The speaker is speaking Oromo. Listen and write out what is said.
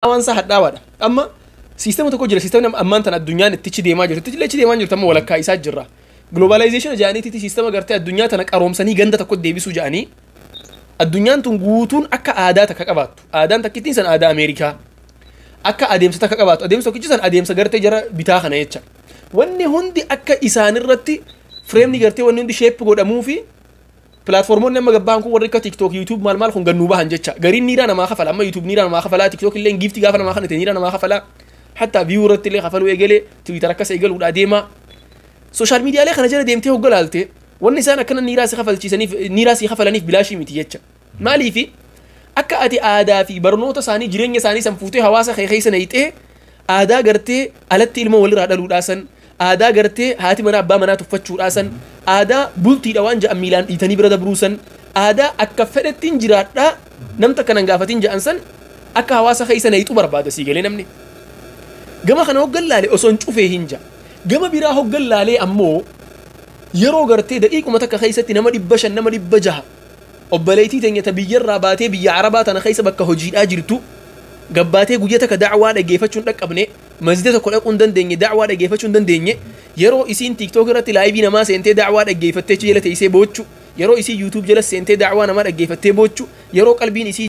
hadhaawaan isaa hadhaawaadha. Amma siistema tokko jira siistemni ammaan tan addunyaan itti ichi deemaa jirtu illee ichi deemaa jirtu amma walakkaa isaa jirra. Globalization ja'aniitiiti siistema gartee addunyaa tana qaroomsanii ganda tokko deebisuu ja'anii addunyaan tun guutuun akka aadaa takka qabaattu. Aadaan takkittiin san aadaa Ameerikaa. Akka adeemsa takka qabaattu. Adeemsa tokkichi san adeemsa gartee jara bitaa kana jecha. Wanni hundi akka isaanirratti fireemni gartee wanni hundi sheeppi godhamuu fi Platformonni amma gabbahan kun warri akka TikTok, YouTube maal maal kun gannuu bahan jecha. Gariin niiraa namaa kafala. Amma YouTube niiraa namaa kafala. TikTok illee giifti gaafa namaa kanate niiraa namaa kafala. Hatta view irratti illee kafaluu eegale. Twitter akkas eegaluudha deema. Social media illee kana jala deemtee hogga laalte wanni isaan akkana niiraa si kafalchiisaniif niiraa si kafalaniif bilaashii miti jecha. Maaliifi akka ati aadaa fi barnoota isaanii jireenya isaanii san fuutee hawaasa kee keessa nayxee Aadaa gartee alatti ilmoo waliraa dhaluudhaa san, aadaa gartee haati manaa abbaa manaa tuffachuudhaa san, aadaa bultiidha waan ja'an miilaan dhiitanii bira dabruu san, aadaa akka fedhettiin jiraadhaa nam takka nan gaafatin ja'an san akka hawaasa keessa nayxu barbaada sii galee namni. Gama kana hoggan laale osoon cufee hin ja'a. Gama biraa hoggan laalee ammoo yeroo gartee daqiiquma takka keessatti nama dhibba shan nama dhibba jaha Obboleeytii teenya ta biyya irraa baatee biyya Arabaa tana keessa bakka hojiidhaa jirtu gabbaatee guyya takka da'waa dhageeyfachuu hin dhaqqabne, masjida tokko dhaquu hin dandeenye, da'waa dhageeyfachuu hin dandeenye, yeroo isiin tiktok irratti live namaa seentee da'waa dhaggeeyfattee achi jala teeysee boochu, yeroo isiin youtube jalas seentee da'waa namaa dhaggeeyfattee boochu, yeroo qalbiin isii.